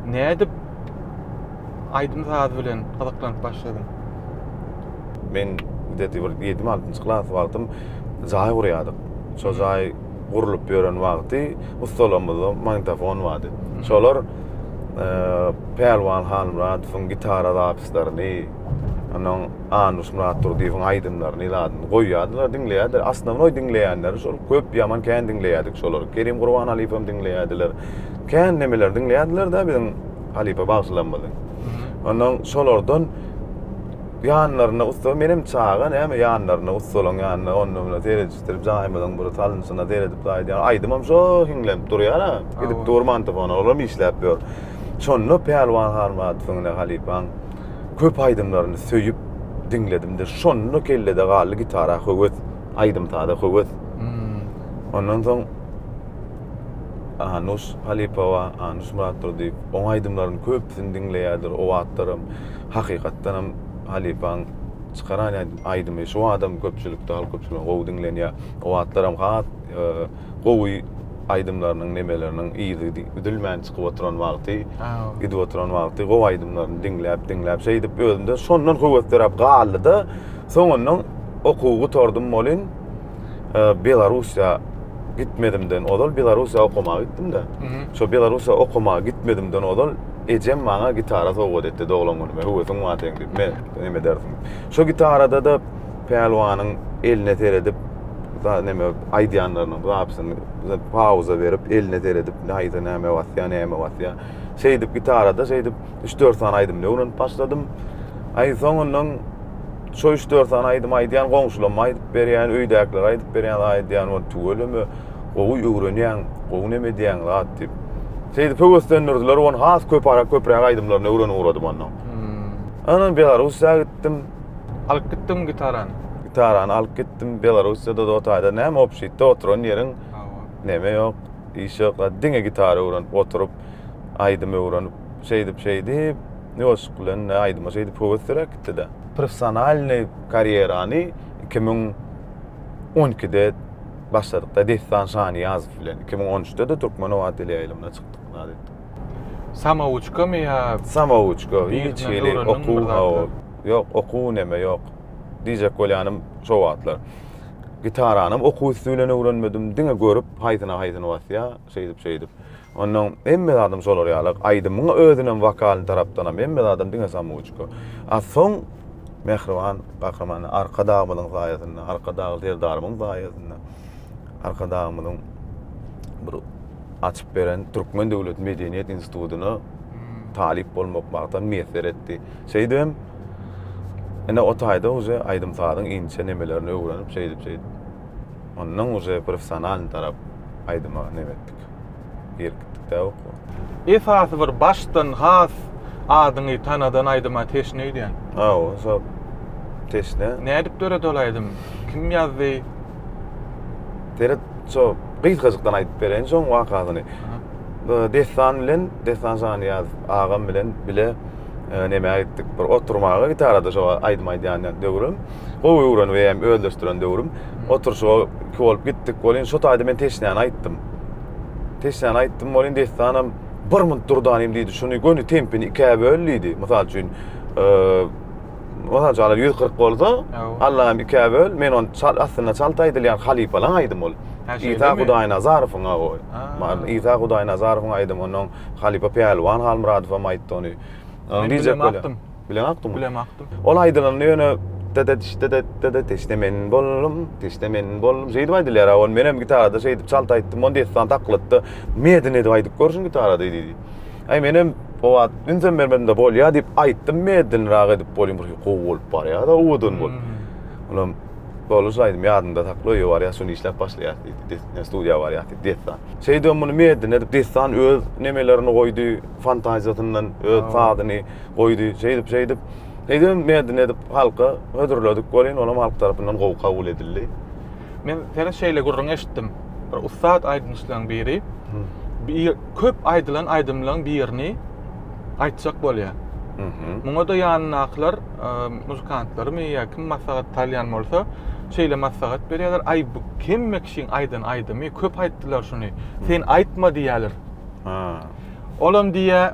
Nädip aýdym saz bilen gyzyklanyp başladyň? Men gdeti bir ýedim altynjy klas wagtym jaý gurýardyk. Şo jaý gurlup ýören wagty ussalamyzda magnitofon bardy. Şolar Pälwan Halmyradowyň gitara zapislaryny, onuň Anuş Myratdurdyýewiň aýdymlaryny ilatyny goýýardylar, diňleýärdiler. Osnownoý diňleýänleri şol köp, ýaman kän diňleýärdik şolary. Kerim Gurbanalyýewem diňleýärdiler. kän nemeleri diňleýärdiler-de biziň halypa bagşylarymyzy. Ondan şolardan ýanlarynda ussa menem çaga näme ýanlarynda ussalaryň ýanynda onda munda seredişdirip jaýymyzyň bir salynşyna seredip gaýdýan aýdymym şol hiňlenip durýar-a gidip dur mantofona olam işläp ýör. Şonda Pälwan Halmyradowyň ine halypaň köp aýdymlaryny söýüp diňledimde şonda kellede galdy gitara höwes aýdym-saza höwes. Ondan soň Anuş Halypowa, Anuş Myratdurdyýew. Oň aýdymlaryny köpüsini diňleýärdir. O wagtlaram hakykatdanam halypaň çykaran aýdymy şu wagtam köpçülikde, halk köpçüliginde gowy diňlenýär. O wagtlaram has gowy aýdymlarynyň, nemeleriniň yzy üzülmän çykyp oturan wagty, gidip oturan wagty gowy aýdymlaryny diňläp, diňläp şeýdip özümde şondan höwesleräp galdy-da, soňundan okuwy gutardym welin, e, Belarusiýa gitmedimden ozal Belarusiýa okamaga gitdim-de. Şo Belarusiýa okamaga gitmedimden ozal ejem maňa gitara sowgat etdi doglan günüme. Höwesiň bar seň diýip, men neme dersiň. Şo gitarada-da Pälwanyň eline seredip, da neme aýdýanlarynyň zapysyny pauza berip, eline seredip, haýsy näme basýa, näme basýa. Şeýdip gitarada şeýdip 3-4 sany aýdymyny öwrenip başladym. Aý soňundan Şo üç dört sany aýdym aýdýan goňşulama aýdyp berýän, öýdäkiler aýdyp berýän aýdýan ol tüweleme gowy öwrenýän, gowy neme edýän zat diýip. Şeýdip höweslendirdiler, ony has köp ara köpräk aýdymlaryny öwrenip ugradym ondan. Hmm. Anam Belarussiýa gitdim. Alyp gitdim gitarany. Gitarany alyp gitdim Belarussiýada da otaýda näme obşitde oturan ýeriň neme ýok, iş ýok, diňe gitara öwrenip oturyp aýdym öwrenip şeýdip şeýdip Ne bolşuk bilen, ne aýdyma şeýdip höwesliräk gitdi-de. Professionalnyý karýerany iki müň on ikide başladyk-da Dessan Şanyýazow bilen. Iki müň on üçde-de Türkmenobat teleýaýlymyna çykdyk, zat etdik. Samawuçkamy ýa? Samawuçka, hiç hili okuw, hawa. Ýok, okuw, neme ýok. Diýjek bolýanym, şo wagtlar gitaranam okuw üsti bilen öwrenmedim, diňe görüp, haýsyna-haýsyny basýar, şeýdip-şeýdip. Onnoň hemme zadam şolar ýaly, aýdymyň özünem wokalyny tarapdanam hemme zadam diňe samoçka. A soň mähriban gahryman Arkadagymyzyň saýasynda, Arkadag Serdarymyň saýasynda, Arkadagymyzyň bir açyp beren Türkmen döwlet medeniýet institutyna talyp bolmak bagtam miýesser etdi. Şeýdibem ine o taýda uje aýdym-sazyň inçe nemelerini öwrenip şeýdip-şeýdip onnoň uje professionalny tarap aýdyma nebet. Berip gitdik dä oka. Esasy bir başdan has adyňy tanadan aýdyma teşne öýdýän. Hawa şo teşne. Nädip döredi ol aýdym? Kim ýazdy? Seret şo gysgajykdan aýdyp bereýin şoň wakasyny. Dessan bilen Dessan Şanyýaz agam bilen bile e, nämä gitdik bir oturmaga gitarada şo aýdym aýdýan döwrüm. gowy öwrenip eýýäm özleşdiren döwrüm. Oturşyga iki bolup gitdik. Welin şo taýda men teşnäni aýtdym. Teşnäni aýtdym, welin dessanam bir munt durdanym diýdi. Şuny göni tempini ikä böl diýdi. Mysal üçin, mysal üçin, alar 140 bolsa, Allahym ikä böl, men ony çal, aslynda çalt aýdylýan halypalaň aýdymy ol. Isa Hudaýnazarowyň o. Isa Hudaýnazarowyň aýdymy, ondan halypa Pälwan Halmyradow hem aýtdy ony. Diýjek bolýan. Bilen akdyň. Bilen akdyň. Ol aýdylanda ýöne dedet dedet dedet teşne men boldum, teşne men boldum. Şeýdip aýdylýar. Ol menem gitarada şeýdip çalt aýtdym. Onda dessan taklatda medin edip aýdyp görşün gitarada diýdi. Aý menem o wagt ünsem bermedim de bolýa diýip aýtdym medin raga edip bolýum. Bir gowy bolup barýar da owadan bol. Hmm. Olam Bolan şu aýdym ýadynda sakla öýe barýas şuny işläp başlaýas diýdi. Dessan studiýa barýas diýdi dessan. Şeýdem muny medin edip dessan öz nemelerini goýdy fantaziýasyndan öz sazyny. goýdy, şeýdip, şeýdip. Eýsem merdin edip halka hödürledik welin olam halk tarapyndan gowy kabul edildi. Men seniň şeýle gürrüň eşitdim. Bir ussat aýdymçylaryň biri bir köp aýdylan aýdymlaryň birini aýtjak bolýar. Muňa-da ýanyndakylar muzykantlarymy ýa kim maslahat salýan bolsa, şeýle maslahat berýärler, Aý, bu hemme kişiň aýdan aýdymy, köp aýtdylar şuny. Sen aýtma diýýärler. Olam diýýär,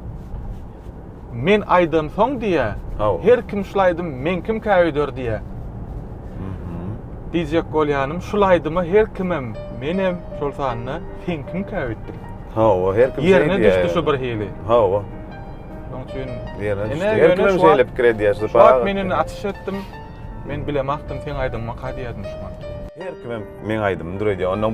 men aýdan soň diýä Haw. her kim şul aýdym men kimkä öýder diýä. Mhm. Diýjek bolýanym şul aýdyma her kimem menem şol sanda sen kimkä öýtdüm. Hawa her kim şeý diýä. Ýerine düşdi şu bir hili. Hawa. Şoň üçin Ýerine düşdi. Her kim hem şeýle pikir edýär. Şu wagt men indi açyş etdim. Men bilemagtym seň aýdymyňy ka diýerdim şu wagt. Her kimem meň aýdymymy dür edýär. Onnoň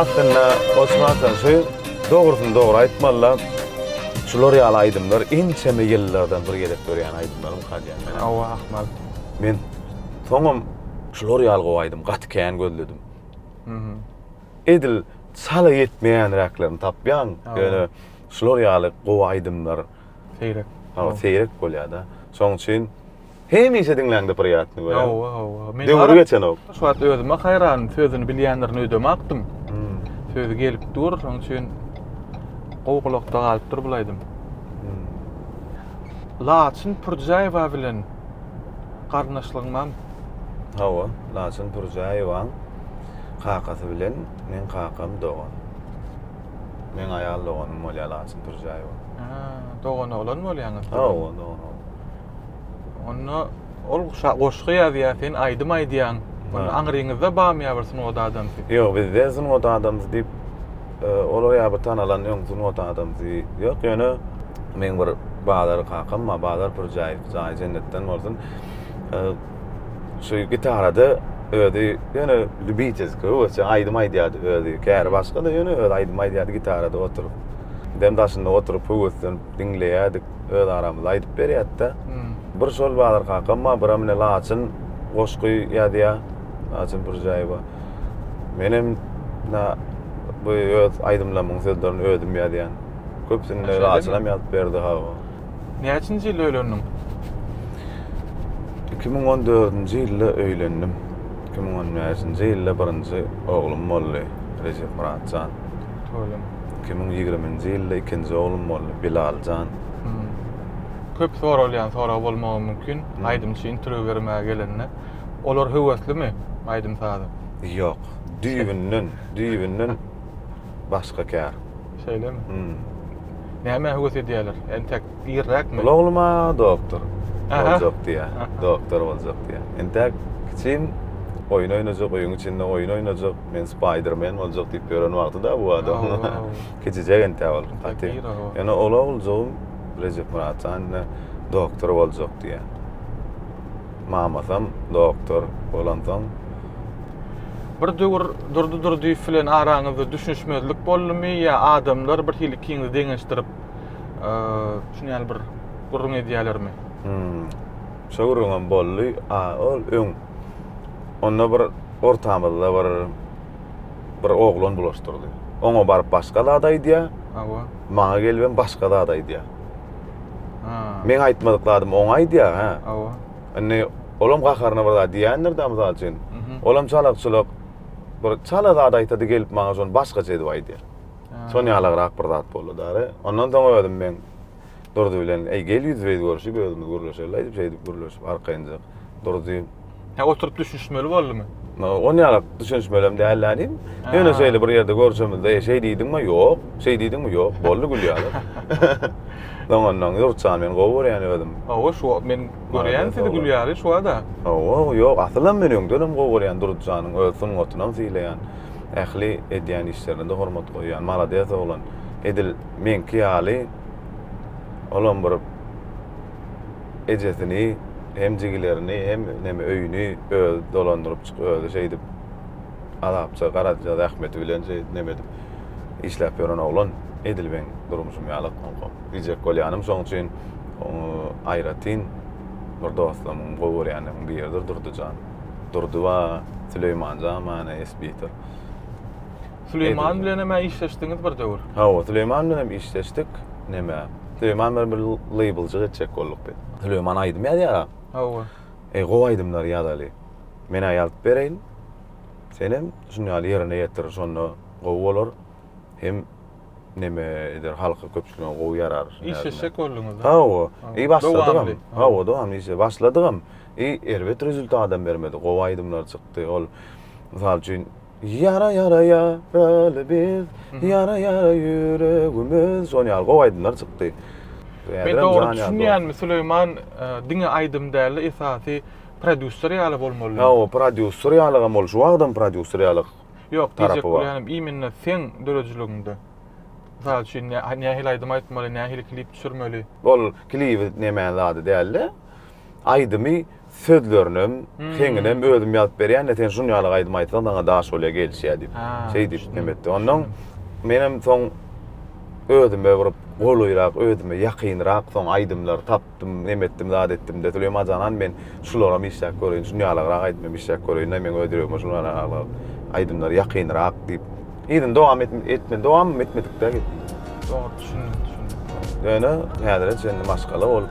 Aslynda Osman Tanşy dogrusyny dogry aýtmalla şular ýaly aýdymlar ençeme ýyllardan bir gezek dörýän aýdymlar okadýan men. Hawa ahmal. Men soňam şular ýaly gowy aýdym gaty kän gözledim. Edil çala ýetmeýänräklerini tapýaň. Ýöne şular ýaly gowy aýdymlar seýrek. Hawa seýrek bolýada. Şoň üçin Hemişe diňläňde priýatny görýän. Hawa, hawa. Men Döwri geçenok. Şu wagt özüme haýran, sözüni bilýänlerini öýdemapdym. Hmm. Sözi gelip dur, şonuň üçin gowy gulakda galypdyr bul aýdym. Hmm. Laçyn Pürjäýewa bilen garyndaşlygyň barmy? Hawa, Laçyn Pürjäýewaň kakasy bilen men kakam dogan. Men aýal doganym bolýar Laçyn Pürjäýewa. Ha, dogan oglan bolýaňyz. Hawa, dogan. Onda ol goşgy ýazýar, sen aýdym aýdýaň. Onda aňryňyzda barmy ýa bir sungat adamsy? Ýok, bizde sungat adamsy diýip e, olar ýa bir tanalan ýoň sungat adamsy ýok. Ýöne meň bir bazar kakam bar, Bazar Pürjäýew, jaýy jennetden bolsun. E, şu gitarada özi ýöne lübitelski öwezçe aýdym aýdýardy özi. Käri başga-da ýöne özi aýdym aýdýardy gitarada oturyp. Bizem daşynda oturyp höweslenip diňleýärdik. öz aramyzda aýdyp berýätde. Bir şol Badyr kakam bar, bir amine Laçyn goşgy ýazýa. Laçyn Pürjäýewa. Menem na bu öz aýdymlarymyň sözlerini özüm ýazýan. Köpsünde Laçynam ýazyp berdi ha. Näçinji ýylda öýlendiň? 2014-nji ýylda öýlendim. 2015-nji ýylda birinji oglum boldy, Rejep Myratjan. Toýuň. Iki müň ýigriminji ýylda ikinji oglum boldy, Bilal jan. Köp soralýan sorag bolmagy mümkin, aýdymçy interwýu bermäge gelende, olar höweslimi aýdym-saza? Ýok, düýbünden, düýbünden başga kär. Şeýlemi? Hum. Nämä höwes edýärler? Entek irräkmi? Ol ogluma doktor boljak diýýär, doktor boljak diýýär. Entäk kiçim oýun oýnajak, öýüň içinde oýun oýnajak. Men Spaýdermen boljak diýip ýören wagty-da bu adam kiçijek entä ol. Gaty. Ýöne ol oguljygym Rejepmyrat jan ine doktor boljak diýýär. Mamasam doktor bolansoň Bir döwür Durdy Durdyýew bilen araňyzda düşünişmezlik boldumy ýa adamlar bir hili ikiňizi deňeşdirip şuny ýaly bir gürrüň edýälermi? Şo gürrüňem boldy. A, ol öň. Onda bir ortamyzda bir bir oglan bulaşdyrdy. Oňa baryp başga zat aýdýar. Hawa. Maňa gelibem başga zat aýdýar. Ha. Meň aýtmadyk zadymy oňa aýdýar, hä? Hawa. Indi olam gaharyna bir zat diýendir-de, mysal üçin. Olam çalak-çulak bir çala zat aýtady gelip maňa şony başgaça edip aýdýar. Şon ýalagrak bir zat boldy-da. Ondan soň özüm meň Durdy bilen, Eý, gel ýüzbe-ýüz görşüp, özümiz gürleşeli-aý diýip, şeýdip gürleşip, arkaýynjak Durdy. Hä, oturyp düşünişmeli boldumy? On ýalak düşünişmelem däldi-ä diýdim. Ýöne şeýle bir ýerde görşümizde, Eý, şeý diýdiňmi? Ýok. Şeý diýdiňmi? Ýok. Boldy gül ýaly. Soňundan, Durdy jan, men gowy görýän özüm. Hawa, şu wagt men görýän sizi gül ýaly, şu wagt-a. Hawa, ýok, asylam men öňdenem gowy görýän Durdy janyň öz sungatynam sylaýan. Ähli edýän işlerine-de hormat goýýan. Malades oglan. Edil. Meňki ýaly olam bir ejesini hem jigilerini hem neme öýüni özi dolandyryp çyk özi şeýdip azapça garaja zähmeti bilen şey neme edip işläp ýören oglan edil meň durmuşym ýaly onko diýjek bolýanym şoň üçin aýratyn bir dostlarymyň gowy görýänleriň biridir durdyjan durdyba süleýmanjan many esbidir Süleýman bilenem-ä işleşdiňiz bir döwür. Hawa, Süleýman bilenem işleşdik. Näme, Süleýman bilen bir leýbljyk etjek bolduk biz. Süleýman aýdym ýazýar-a. Hawa. Eý, gowy aýdymlar ýazaly. Men-ä ýazyp bereýin. Senem şuny ýaly ýerine ýetir, şonda gowy bolar. Hem näme eder, halka, köpçülige gowy ýarar. Işleşjek bolduňyz-da. Hawa. Eý, başladygam. Hawa, dowamly işledik. Başladygam. Eý, erbet rezultadam bermedi. Gowy aýdymlar çykdy. Ol, mysal üçin, Ýara ýara ýaraly biz, Ýara ýara ýüregimiz, şon ýaly gowy aýdymlar çykdy. Men dogry düşünýänmi Süleýman diňe aýdym dälde esasy prodýuser ýaly bolmaly. Hawa prodýuser ýalygam ol şu wagtam prodýuser ýalyk. Ýok diýjek bolýanym immenne seň döredijiligiňde. Mysal üçin nähili aýdym aýtmaly nähili klip düşürmeli. Ol klibi neme zady dälde. Aýdymy sözlerinem, heňinem özüm ýazyp berýän-de, sen şun ýaly aýdym aýtsaň saňa daş bolýar, gelişýär diýip. Şeý diýip näme etdi. Onnoň menem soň özüme bir golaýrak, özüme ýakynrak soň aýdymlar tapdym, näme etdim, zat etdim-de, Süleýman janan men şularam işläp göreýin, şun ýalygrak aýdym hem işläp göreýin-de, meň öz ýüregime şun ýalygrak aýdymlar ýakynrak diýip, yzyny dowam etmedi, dowamam etmedik-dä gepimiz. Dogry, düşündim, düşündim. Ýöne häzire çenli maşgala bolup.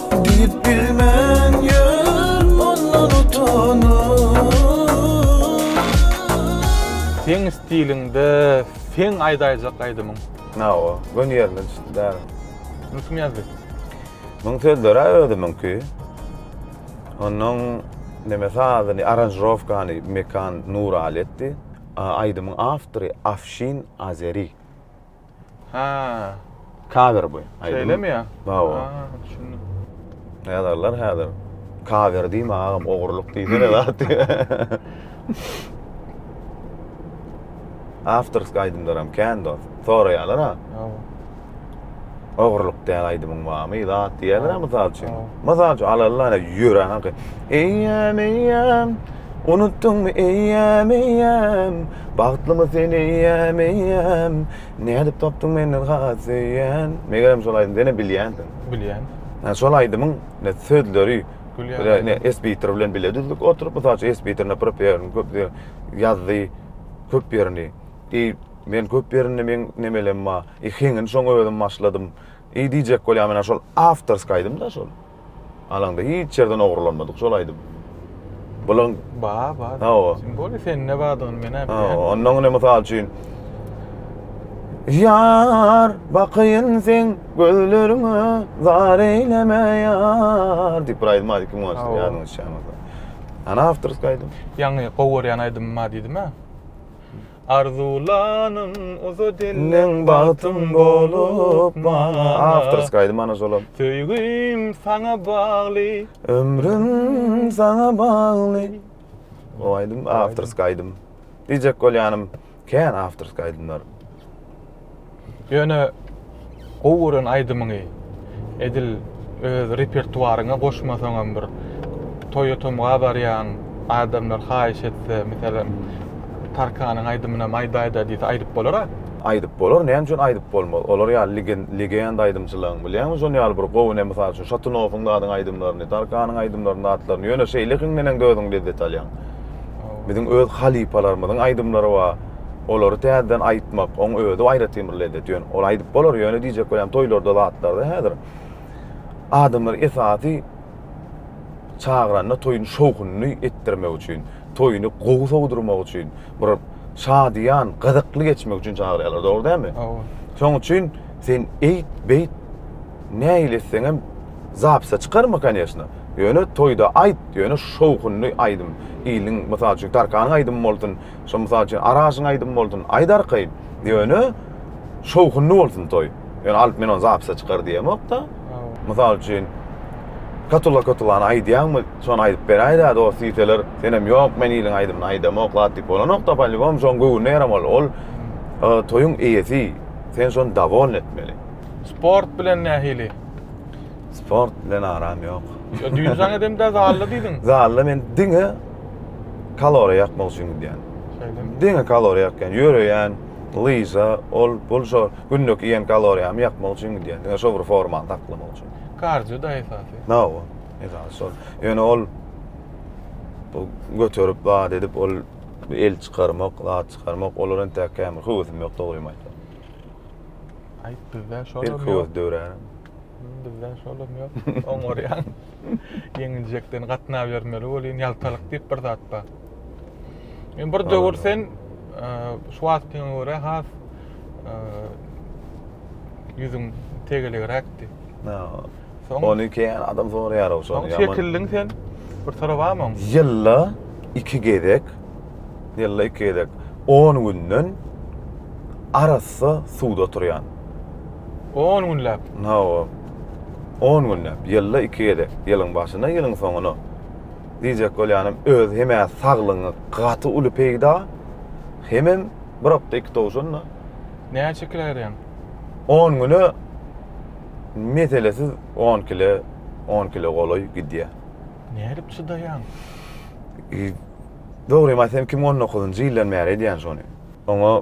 Diýip bilmän ýör ondan utanyp. Seň stiliňde seň aýdaýjak aýdymyň. Hawa, göni ýerine düşdi bägim. Muny kim ýazdy? Muň sözleri-ä özümiňki. Onuň neme sazyny, aranžirowkany Mekan Nuraly etdi. Aýdymyň awtory Afşin Azeri. Ha. Cover bu. Şeýlemi ya? Bawa. Ha, düşündim. Ýazarlar häzir. Cover diýme agam, ogurlyk diýsene zat. Awtorsk aýdymlaram kän dost. Soraýarlar ha. Bawa. Ogrulyk däl aýdymyň bamy zat diýýäler a mysal üçin. Mysal üçin alalyň ane ýören aky. Eýýäm eýýäm unutdyňmy eýýäm eýýäm bagtlymy sen eýýäm eýýäm nädip tapdyň menden has söýýän megerem şol aýdym senem bilýänsiň. Bilýän. Ýa şol aýdymyň ne sözleri Bilýän. Ne esbitir bilen bile düzdük oturyp mysal üçin esbitirine prop ýerini köp ýazdy köp ýerini. Men köp ýerinde meň nemelem bar. Ikiň indi şoň özüm başladym. Eý diýjek bolýan menä şol awtorska aýdymda şol. Alaňda hiç ýerden ogurlanmadyk şol aýdym. Bulan ba ba. Hawa. Simboly sende badygyny men äp. Hawa, ondan ine mysal üçin Ýar, bakaýyn seň gözleriňe, zar eýleme ýar diýip bir aýdym bar ikiň başda ýadyňa düşýärmi? Ana awtorska aýdym. Ýaňy gowy görýän aýdymym bar diýdim-ä. Arzuwlanym uza dilden bagtym bolup maňa. Awtorskiý aýdym ana şolam. Söýgim saňa bagly. Ömrüm saňa bagly. Bu aýdym awtorskiý aýdym. Diýjek bolýanym kän awtorskiý aýdymlar. Ýöne gowy gören aýdymyňy edil öz repertuaryňa goşmasaňam bir toýa tomga barýaň adamlar haýyş etse meselem Tarkanyň aýdymynam aýdaýda diýse aýdyp bolara. Aýdyp bolar näme üçin aýdyp bolmaz olar ýaly legenda aýdymçylaryň bilýäňmi şon ýaly bir gowy ne mysal üçin Şatynowyň zadyň aýdymlaryny Tarkanyň aýdymlaryny zatlaryny ýöne şeýlekiňdeneňde özüň lezzet alýaň biziň öz halypalarymyzyň aýdymlary bar. Olary täzeden aýytmak, oň özi aýratyn bir lezzet. Ýöne ol aýdyp bolar, ýöne diýjek bolýan toýlarda zatlarda häzir adamlar esasy çagyranda toýuň şowhunyny etdirmek üçin, toýuny gowy sowdurmak üçin, bir şadyýan, gyzykly geçmek üçin çagyrýarlar. Dogry dälmi? Hawa. Şoň üçin sen eýt, beýt, nähili etseňem zapisa çykarma koneşna. Ýöne toýda aýt, ýöne şowhunly aýdym. Iliň, mysal üçin, Tarkanyň aýdymy bolsun, Şo mysal üçin Araşyň aýdymy bolsun, aýt arkaýyn. Ýöne şowhunly bolsun toý. Ýöne alyp men ony zapise çykar diýemok-da. Mysal üçin Katulla Katulany aýdýaňmy, şony aýdyp beräýdä dost diýseler, senem ýok men iliň aýdymyny aýdamok zat diýip bolanok-da, polýubom şoň göwnüne ýaramaly. Ol toýuň eýesi, sen şony dowolny etmeli. Sport bilen nähili? Sport bilen aram ýok. Düýn saňa edemdä zalda diýdiň. Zalda men diňe kaloriýa ýakmak üçin gidýän. Şeýle. Diňe kaloriýa ýakýan, ýöreýän, lyža, ol bul şo günlük iýen kaloriýamy ýakmak üçin gidýän. Diňe şo bir formany saklamak üçin. Kardio da esasy. Nawa, esasy şol. Ýöne ol bu göterip zat edip ol el çykarmak, zat çykarmak, olar entä kämir höwesim ýok dogrymy aýtsam. Aýt bizde şol. Bir köwes döwrän. Bizde şol hem ýok. Oňarýan. Ýeňiljekden gatnabermeli bolýan ýaltalyk diýip bir zat bar. Men bir döwür sen e, şu wagtyňa görä has e, ýüzüň tegelegräkdi. Soň Ony keýen adam soraýar o şony. Soň çekildiň sen. Bir sorabamyň? Ýylda iki gezek, ýylda iki gezek 10 günden arassa suwda oturýan. 10 günläp. Hawa. On günläp, ýylda iki gezek, ýylyň başyna, ýylyň soňuna. Diýjek bolýanym, özi hem-ä saglygyňa gaty uly peýda, hemem bir okda iki towşan-da. Näçe kile berýäň? On güne meselesiz on kile, on kile golaý gidýär. Nädip çydaýaň? Dogrymy aýtsam, iki müň on dokuzynjy ýyldan bäri edýän şony. Oňa.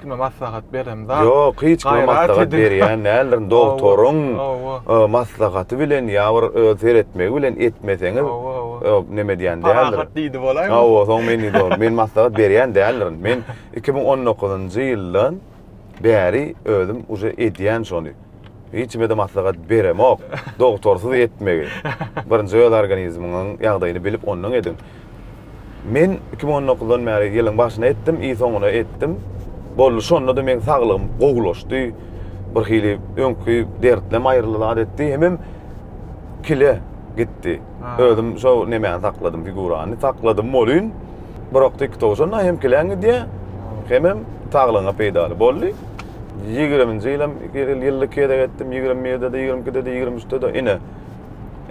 kime maslahat berem zat. Ýok, hiç kime maslahat berýän däldirin. Doktoryň maslahaty bilen ýa bir öz seretmegi bilen etmeseňiz, neme edýän däldirin. Parahat diýdi bolaýmy? Hawa, soň men diýdi bolaýym. Men maslahat berýän däldirin. Men iki müň on dokuzynjy ýyldan bäri özüm uje edýän şony. Hiç kimede maslahat beremok. Dogtorsyz etmegi. Birinji öz organizmiňiň ýagdaýyny bilip ondan ediň. Men iki müň on dokuzdan bäri ýylyň başyna etdim, i soňuna etdim. Boldy şonda-da meň saglygym gowulaşdy. Birhili öňki dertlem aýryldy zat etdi. Hemem kile gitdi. Özüm şo nemäni sakladym, figurany sakladym bolyn. Birak TikTok şonda hem kilen gidýär, hemem saglygyňa peýdaly. Boldy. 20-nji ýylam ýylda iki gezek etdim, 21-de-de, 22-de-de, 23-de-de ine.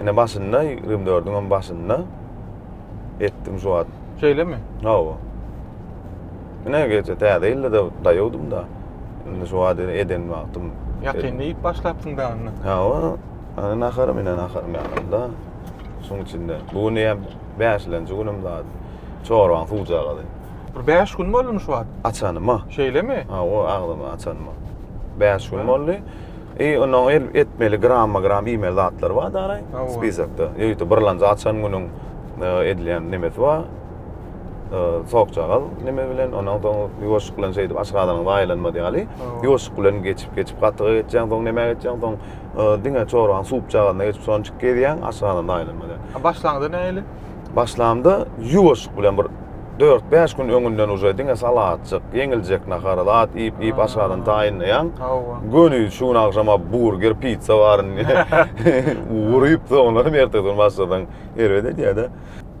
Ine başynda, 24-iň hem başynda etdim şu wagt. Şeýlemi? Hawa. Ine geçen täze ýylda-da daýawdym-da. Indi şu wagt eden wagtym. Ýakynda iýip başlapsyň dagyny. Hawa. Ana naharym ine naharym ýanymda. Şuň içinde. Bu gün ýa bäşilenji günüm zat. Çorbaň suwjagazy. Bir bäş gün boldumy şu wagt? Açanyma. Şeýlemi? Ha, o agzymy açanyma. Bäş gün boldy. I ony el etmeli gramma gram iýmeli zatlar bar daraý. Spisakda. Ýörite birlanja açan günüň e, edilýän nemesi bar. E, Sokjagaz neme bilen, ondan soň ýuwaşyk bilen şeýdip aşgazanyň zaýalanmady ýaly. Ýuwaşyk bilen geçip geçip gatyga geçýän, soň nämä geçýän, soň Diňe çoragyň suwupjagazynda geçip sonjik gezýäň, aşagyndan aýlanmaýar. A başlanda nähili? Başlanda ýuwaşyk bilen bir dört bäş gün öňünden uje diňe salatjyk, ýeňiljek nahar, zat iýip iýip aşagyndan taýynlaýaň. Hawa. Göni şu gün agşama burger, pizza bar indi. Urup soňlanam ertesi gün başlasaň erbet edýärde.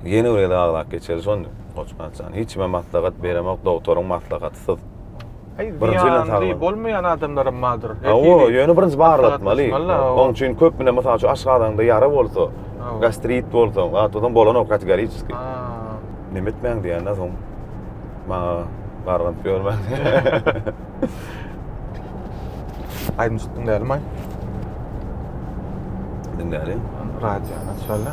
Ýene bir gezek aglap geçeli şonda Goçbagtjan. Hiç kime maslahat beremok dogtoryň maslahatysyz. Heý, zyýanly bolmaýan adamlaram bardyr. Hawa, ýöne birinji barlatmaly. Oň üçin köp bilen, mysal üçin, aşgazanyňda ýara bolsa, gastrit bolsa, gatydan bolanok kategoriski. Neme etmäň diýende soň maňa garganyp ýörmäň. Aýdymçyk diňlälimaý. Diňläli. Radiony açaly.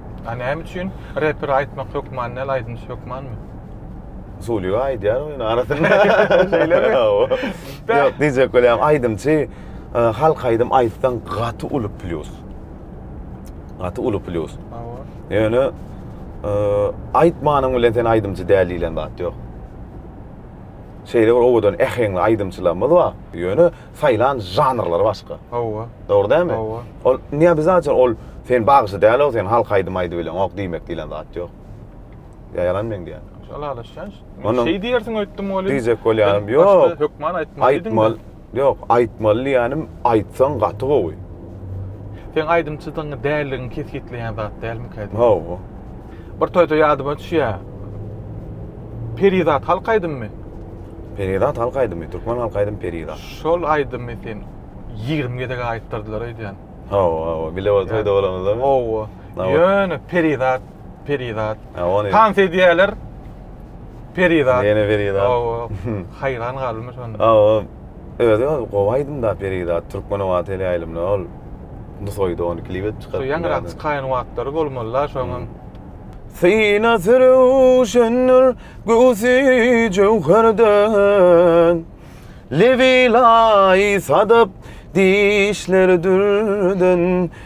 A näme üçin? Repere aýtmak hökman däl, aýdymçy hökmanmy? Sulyga aýdýar ony arasynda. Şeýlemi? Ýok, diýjek bolýan aýdymçy e, halk aýdym aýtsaň gaty uly plýus. Gaty uly plýus. Hawa. Ýöne e, aýtmanyň bilen sen aýdymçy däl diýlen zat ýok. Şeýle bir owadan äheňli aýdymçylarymyz bar. Ýöne saýlan žanrlary başga. Hawa. Dogry dälmi? Hawa. Ol neobizajal ol sen bagşy dälow sen halk aýdym aýdybileňok diýmek diýlen zat ýok. Ýa ýalan meň diýýän. Ylalaşýan şeý. Şeý diýersiň öýtdüm welin. Diýjek bolýanym ýok. Hökman aýtmaly diýdiň. Aýtmaly. Ýok, aýtmaly diýýänim aýtsaň gaty gowy. Seň aýdymçydygyňy däldigiňi kesgitleýän zat dälmikä diýýän. Hawa. Bir toýda ýadyma düşýä. Perizat halk aýdymmy? Perizat halk aýdymy, türkmen halk aýdym Perizat. Şol aýdymy sen 20 gezek aýtdyrdylar öýdýän. Hawa, hawa, bile bir toýda bolanymyzda. Hawa. Ýöne Perizat, Perizat. Tans edýäler. Perizat. Ýene Perizat. Hawa. Haýran galdymy şonda. Hawa. Özi ol gowy aýdymda Perizat Türkmenowa teleýaýlymyna ol Nusaýda ony klip edip çykarypdy. Şu ýaňyrak çykaýan wagtlary bolmalyda şoňam. Synasy röwşendir göwsi jöwherden, Lebi laý sadap, dişleri dürden,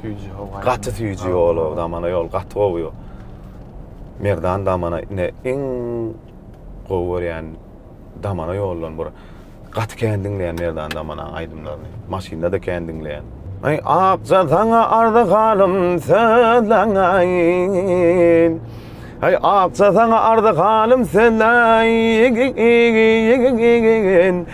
Süýji howa. Gaty süýji ýol o damana ýol gaty gowy ýol. Merdan damana ine iň gowy görýän damana ýollan bura. Gaty kän diňleýän Merdan damana aýdymlaryny. Maşynda da kän diňleýän. Ay akja sana arda galym sözlenayin Ay akja sana arda galym sözlenayin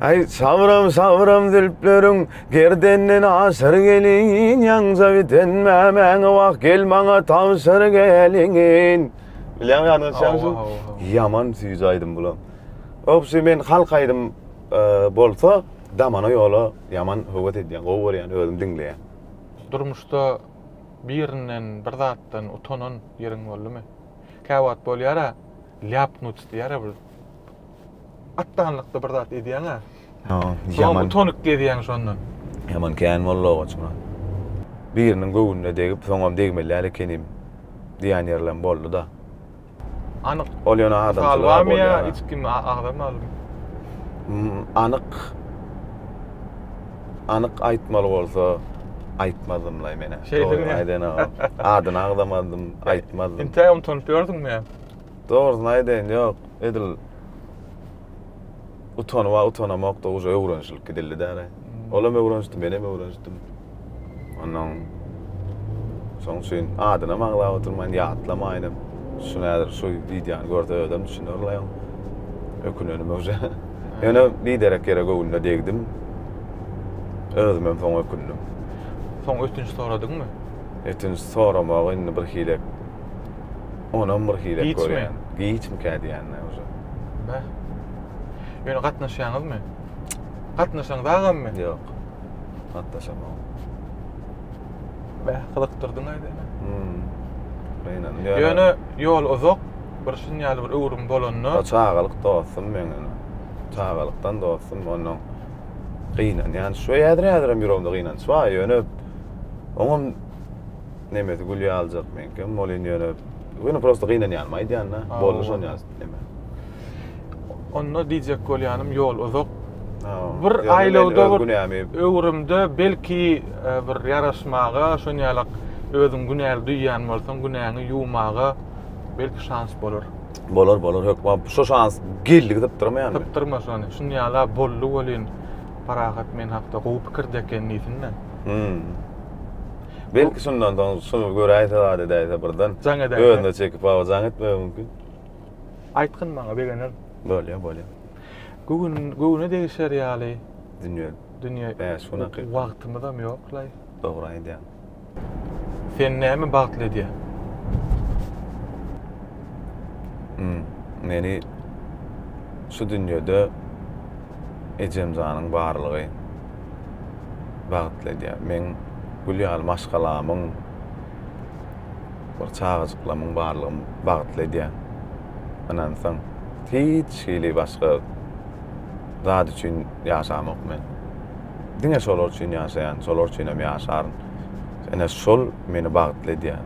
Ay sabram sabram zülpleriň gerdenden aşyr gelin ýaňja biten mämäň wah gel maňa tawşyr gelin. Bilýän ýadyňa düşýärmi? Ýaman süýji aýdym bulam. Obşi men halk aýdym e, bolsa damana ýola ýaman höwes edýän, gowy görýän, özüm diňleýän. Durmuşda birinden, bir zatdan utanan ýeriň boldumy? Käwagt bolýar-a. ляпнуть дiyar bir atdanlykda bir zat edýäň a. Soňam utonik gezýäň şondan. Ýaman kän boldy owaç muny. Biriniň göwnüne degip soňam degmeli ekenim diýän ýerlem boldy-da. Anyk. Ol ýöne adamçylyk bolýar. Salwamy ýa hiç kim agza malum. Anyk anyk aýtmaly bolsa aýtmazdym laý menä. Şeýdimi? Aýdan agam. Adyny agzamazdym, aýtmazdym. Entägem utanyp ýördüňmi ýa? Dogrusyny aýdaýyn, ýok, edil utanyba utanamokda uje öwrenişilip gidildi däne. Hmm. Olam öwrenişdi, menem öwrenişdim. Ondan şoň üçin adynam aňlap oturmaýyn, ýatlamaýynam. Şu nädir, şu wideony görse özem düşüner laýyň. Ökünenime uje. Ýöne biderek ýere göwnüne degdim. Özümem soň ökündim. Soň ötünç soradyňmy? Ötünç soramagy indi bir hile Onam bir hile Giçmi? görýän. Giçmikä diýýän-dä uje. Bäh. Ýöne gatnaşýaňyzmy? Gatnaşaňyz agammy? Ýok. Gatnaşamok. Bäh, gyzykdyrdyň aýt ene. Hmm. Gynandym. Ýöne ýol uzak, bir şun ýaly bir öwrüm bolanda, O çagalyk dostum meň ene. Çagalykdan dostum, ondan gynanýan. Şu häzir-häzirem ýüregimde gynanç bar, ýöne oňam nemesi gül ýalyjak meňkem ol indi ýöne ýöne prosta gynanýanym aýdýanda boldy şon ýaly neme onda diýjek bolýanym ýol uzak bir aýlawda bir öwrümde belki e, bir ýaraşmaga şon ýaly özüň günäli duýýan bolsaň günäňi ýuwmaga belki şans bolar bolar bolar hökman şu şans geldi gidip durmaýan gidip durma şony şun ýala boldy welin parahat men hakda gowy pikirde eken diýsinler hmm. Belki şundan soň şuny göräýse zat edäýse birden. Jaň edäýse. Özüne çekip awa jaň etmegi mümkin. Aýtgyn maňa begenerin. Bolýa bolýa. Göwün göwüne degişer ýaly. Dünýe. Dünýe. Bäş gün hakykat. Wagtymyzam ýoklaý. Dogry aýdýaň. Seni näme bagtly edýär? Meni şu dünýede Ejem janyň barlygy bagtly edýär. Meň gül ýaly maşgalamyň bir çagajyklamyň barlygy bagtly edýär. Ynansaň, hiç hili başga zat üçin ýaşamok men. Diňe şolar üçin ýaşaýan, şolar üçinem ýaşaryn. Ine şol meni bagtly edýär.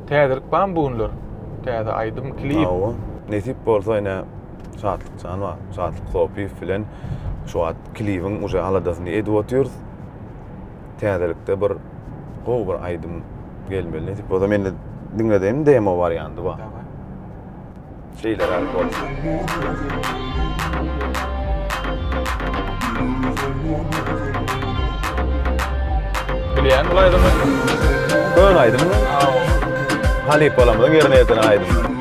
Täzelik barmy bu günler? Täze aýdym, klip? Hawa, nesip bolsa ine. Şatlyk Janowa, Şatlyk Sopyýew bilen şu wagt klibiň uje aladasyny edip otyrys. Täzelikde bir gowy bir aýdym gelmeli nesip bolsa mende diňledeýin demo warianty bar. Daway. Şeýleräk bolsun. Bilýän bul aýdymy? Kön aýdym. Halypalarymyzyň ýerine ýetiren aýdym.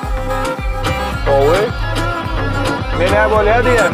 Gowy. Menä bolýar diýen.